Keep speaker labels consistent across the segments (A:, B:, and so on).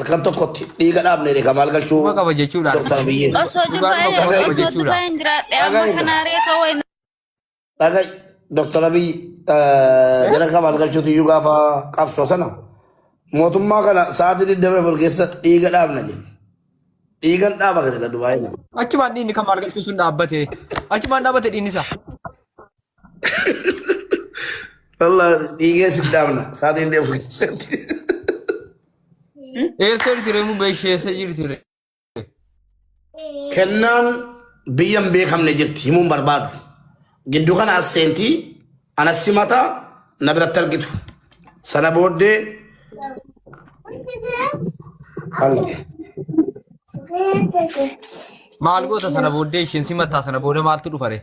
A: Halkan tokkotti dhiiga dhaabne dha maal galchuu Dhuma qaba jechuudha. Dr.
B: Abiyyiin. Osoo
A: Dhugaa jibbaa'ee dhugaa
C: osoo jechuudha. jibbaa'ee hin jiraadhe amma Dhagaa kana aree ta'uu hin Dhagai
A: Dr. Abiy jara kan maal galchuutu iyyuu gaafa qabsoo sana mootummaa kana sa'aatii 24 keessa dhiiga dhaabna jedhe. Dhiigan dhaaba kan jedha Dubaayii. Achumaan dhiinni kan maal
B: galchuu sun dhaabbate. Achumaan dhaabbate dhiinni isaa.
A: Wallah dhiigee si dhaabna saatiin deemu keessatti.
B: Eessa jirti ree mubbee ishee eessa jirti ree?
A: Kennaan biyya hin beekamne jirti himuun barbaadu. Gidduu kana as seentii anas simata na biratti argitu. Sana booddee Allah.
B: Maal goota sana booddee isheen simataa sana booda maaltu dhufa ree?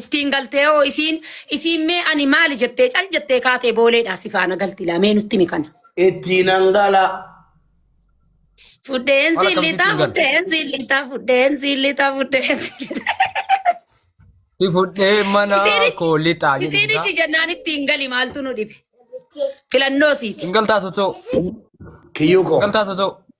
A: ittiin
D: galtee hoo isiin isiin mee ani maali jettee cal jettee kaatee booleedhaa si faana galti laa mee nutti himi kana. Ittiin hangala. Fudheen Mala siin lixaa
B: kamsitti
D: fudheen siin lixaa fudheen siin
B: lixaa fudheen siin lixaa. Si fudhee mana Isiin koo lixaa ishi- isiin jedhu. ishii jennaan
D: ittiin
B: gali
D: maaltu nu dhibe. Filannoo siiti. Singaltaa sotoo.
B: Kiyyuu
A: koo. Singaltaa sotoo.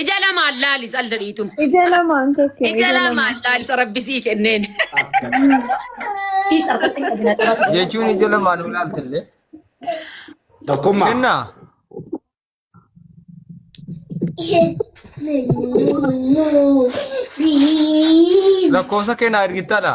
D: Ija lamaan laali salda dhiitun. Ija lamaan tokko.
C: Ija lamaan laali
D: sarabbisii kenneen.
B: Jechuun ija lamaan nu ilaaltillee.
A: Tokkummaa. Kennaa.
B: Lakkoofsa kennaa ergittaadha.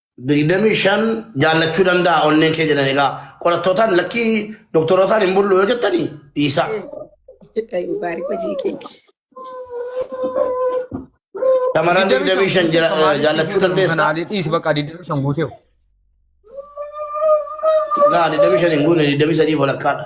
B: digdamii
A: shan jaallachuu danda'a onneen kee jedhan egaa qorattootaan lakkii doktorootaan hin bullu yoo jettanii dhiisaa. Ay,
D: Mubaarik hojii kee.
A: Shamarran digdamii shan jira- eh, jaallachuu dandeessaa. Kanaalee dhiisi bakka digdamii
B: shan guutee.
A: Gaa digdamii shan hin guune digdamii sadii walakkaadha.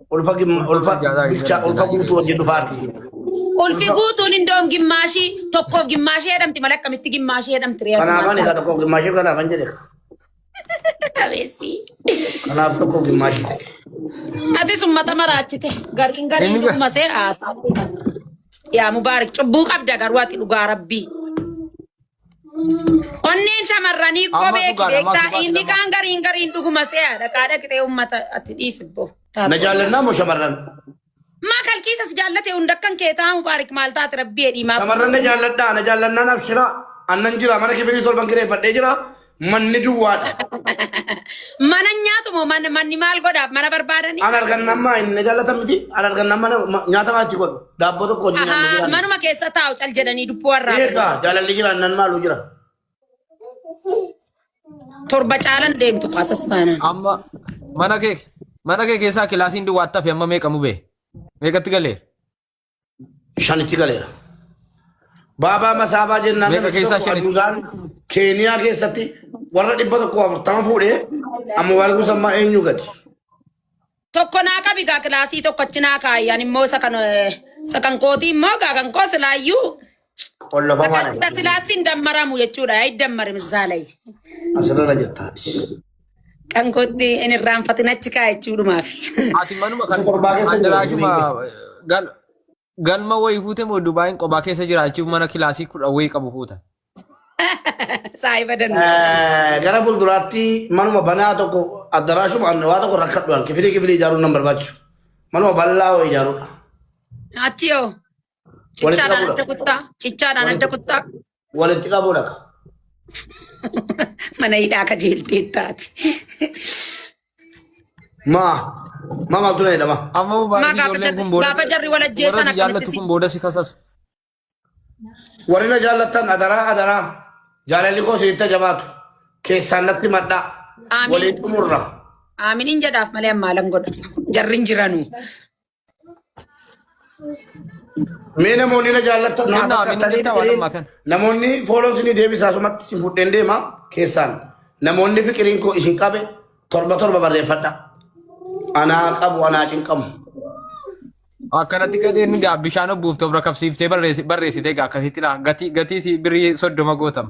A: Ulfa gimma- ulfa bilchaa ulfa guutuu wajjin dhufaati. Ulfi
D: guutuun indoon gimmaashii tokkoof gimmaashii jedhamti malee akkamitti gimmaashii jedhamti reetu Kanaaf ani egaa tokko gimmaashii
A: kanaaf an jedhe. qabeessi. Kanaaf tokko gimmaashii ta'e. Atis
D: ummata maraachite gariin gariin Inni ga- dhuguma see haasaa. Yaa mubaarik cubbuu qabda garuu ati dhugaa rabbii. Onneen shamarranii Amma qobee dhugaadha, amma kibeektaa dhugaadha, inni amma. kaan gariin gariin dhuguma se'aadha qaadha qixee uummata ati dhiisibbo. Na jaallannaa
A: moo shamarran? Maa
D: kalqiisas jaallate hunda akkan kee taa'u baarik maal taate rabbii jedhii maaf. Shamarran na jaalladhaa, na
A: jaallannaan abshiraa. Annan jira, mana kifirii torban kireeffadhee jira. Manni duwwaadha.
D: Mana nyaatu moo man- manni maal godhaaf mana barbaadanii? An argan nama inni
A: jaalatan miti. An argan nama nyaata maatii godhu. Daabboo tokko hojii nyaanni Ahaa, jiraan. manuma keessa taa'u cal
D: jedhanii dubbuu warraa. Eegaa jaalalli jiraan
A: nan maaluu jira.
D: Torba caalan deemtu kaasas taanaan. Amma
B: mana kee mana kee keessaa kilaasiin duwwaatti hafe amma meeqa mubee? Meeqatti galee?
A: shanitti galeera. Baabaa Masaabaa jennaan Meeqa namichi keessaa tokko shanitti? Aduzaan
B: Keeniyaa
A: keessatti warra dhibba tokko afurtama fuudhee amma waalguu sammaa eenyu gadi.
D: Tokko naa qabi gaa kilaasii tokko achi naa kaayyan immoo isa kan eh, isa kan kootii immoo gaa kan koo silaayyuu Qollofamaadha.
A: Sadarkaa silaatti hin dammaramu
D: jechuudha. Yaa dammari misaalay. Asirra
A: jirtaati. Kan
D: kootti hin irraanfatin achi kaa jechuudhumaaf. Ati manuma
B: kan Qorbaa keessa jiru. addaraashuma gal galma wayii fuute moo Dubaayin qobaa keessa jiraachuuf mana kilaasii kudha wayii qabu fuuta.
D: Saahiba danuu. Eh, Gara
A: fuulduraatti manuma banaa tokko addaraashuma anne waa tokko rakkadhu kifilii kifilii ijaaruun nan barbaachisu. Manuma bal'aa wayii ijaaruudha. Achi
D: yoo. Walitti Cichaadhaan qabuu adda dhaqa. kuttaa. Cichaadhaan adda kuttaa. Walitti qabuu
A: dhaqa.
D: Mana hidhaa akka jeeltee taati.
A: Maa. Maa maaltu na jedhama? Amma Maa baay'ee gaafa ijoolleen
B: jarri- kun booda gaafa jarri wal ajjeesan warra si
D: jaallatu akkamitti si- kun booda si
B: kasasu.
A: Warri na jaallattan adaraa adaraa. Jaalalli koo sitti jabaatu. Keessaan natti madhaa. Amiin. Waliin
D: xumurra.
A: Aaminiin jedhaaf
D: malee ammaa lan godha. Jarri hin jiranuu.
A: Mee namoonni na jaallatan naa Kennaa, bakka kennaa, kennaa, tanii waanuma
B: kan. namoonni fooloo isinii
A: deebisaa sumatti isin fudheen deema keessaan namoonni fiqiriin koo isin qabe torba torba barreeffadha. Anaa qabu anaa cinqamu.
B: Akkanatti gadheen gaa bishaan obbuufte of rakabsiiftee barreessi- barreessite gaa akkasitti laa gatii gatii si birrii soddoma gootama.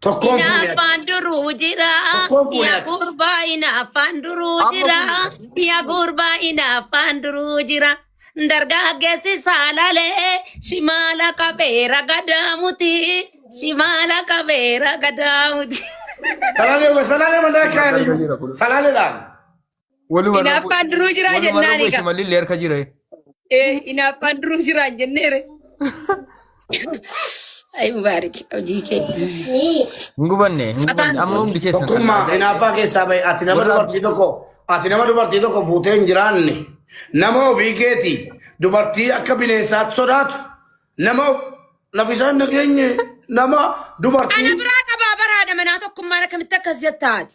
A: Tokkoon fuune ati. Inaaffaan duruu jira.
D: Tokkoon fuune Yaa ati.
A: gurbaa
D: inaaffaan duruu Amma jira. fuune. Yaa gurbaa inaaffaan duruu jira. Dargaggeessi saalalee shimaala qabeera gadaamuti. Shimaala qabeera gadaamuti. Salaalee
A: salaalee manaa kaayanii jiru. Salaaleedhaan. Waluma
D: Hinaaffaan duruu jiraa waluma jennaan rakkoo egaa. shimalli illee harka jira.
B: Eh, hinaaffaan
D: duruu jiraan jenneere. Ayi mubaarik hojii kee. Hin
B: gubanne hin gubanne amma hundi keessan. Tokkummaa hinaaffaa keessaa
A: bahe ati nama Warra- dubartii tokko ati nama dubartii tokko fuutee hin jiraanne nama ofii keeti dubartii akka bineensaatti sodaatu nama of- lafisaan nageenye nama dubartii Ana biraa qabaa
D: baraadha manaa tokkummaan akkamitti akkas jettaati.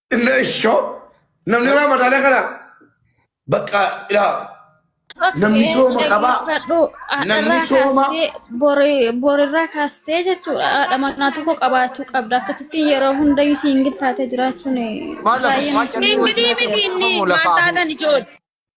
B: Inna ishoo
A: namni ramadana kana bakka ilaa namni sooma qabaa namni sooma
C: borirraa kaastee jechuudha haadha manaa tokko qabaachuu qabda akkasitti yeroo hundayyuu siingil taatee jiraachuun Maal lafa baay'ee waan callee
D: Ingilii wajjin miti inni maal taatan ijoollee.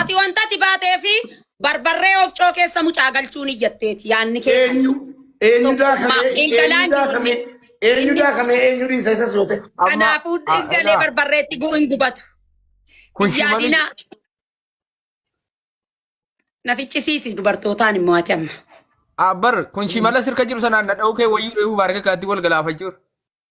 A: Ati wanta ati
D: baatee fi barbarree oofcoo keessa mucaa galchuu ni jetteeti yaanni kee. Eenyu eenyu
A: daakamee eenyu daakamee eenyu daakamee eenyu dhiisa isas yoo ta'e. Kanaafuu dhingalee
D: barbarreetti guu hin gubatu. Yaadina na ficcisiisi dubartootaan immoo ati amma. Abbar kun
B: shimala sirka jiru sanaan na dha'uu kee wayyuu dheebuu baarga kaatti wal galaafachuu.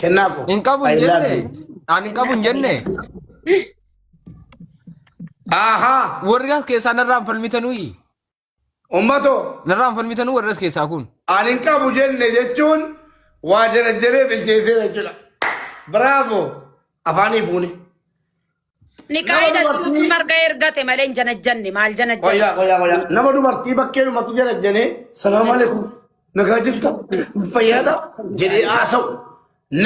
A: Kennaa koo. Hin qabu hin I love
B: jenne. you. Ani hin qabu hin jenne.
A: Ahaa. Warri as keessaa
B: narraan falmitanuyi.
A: Ummatoo. Narraan falmitanuu
B: warri as keessaa kun. Ani hin qabu jenne
A: jechuun waa jarajjaree bilcheessee jechuudha. Bravo. Afaanii fuune.
D: Nikaa Nama hidhachuuf dubartii- marga ergate malee hin janajjanne maal janajjanne. Wayyaa wayyaa wayyaa. Nama dubartii
A: bakkee dhumatti janajjanee salaamu alaikum nagaa jirta fayyaadha jedhee haasa'u.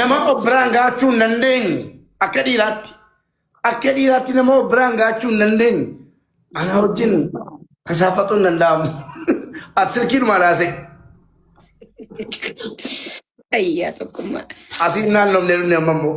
A: Nama obbiraan gaachuu hin dandeenye akka dhiiraatti. Akka dhiiraatti nama obbiraan gaachuu hin dandeenye. Ana wajjin hasaafatu hin danda'amu. Ati silkiin maal haasa'e?
D: Ayyaa tokkummaa. Asiin naannoomne
A: dhumne amma immoo.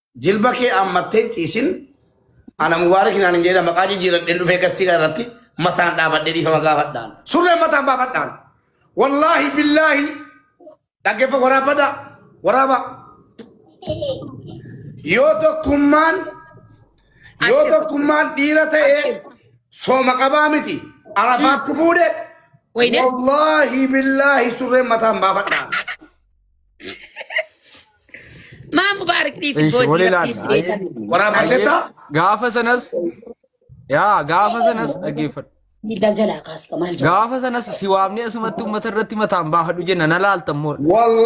A: Jilba kee ammattee ciisin ana mubaarak naan hin jedha maqaa jijjiiradheen dhufee gastii kana irratti mataan dhaabadhee dhiifama gaafadhaan. Surreen mataan baafadhaan. Wallaahi billaahi dhaggeeffa waraabadha waraaba. Yoo tokkummaan yoo tokkummaan dhiira ta'e sooma qabaa miti arafaatti fuudhe Wayne.
D: wallaahi
A: billaahi surreen mataan baafadhaan.
D: Maa mubaarik dhiisi Ishi, boojii waliin rabbii
B: laala. beekan. Waraabbatteetta?
A: Gaafa sanas
B: yaa gaafa sanas dhaggeeffadhu. Miidhaa jalaa
D: kaasika
B: maal jedhu. Gaafa sanas si waamnee
D: asumatti
B: uummata irratti mataan baafadhu jenna na laaltan
D: moora.
B: Wallahi.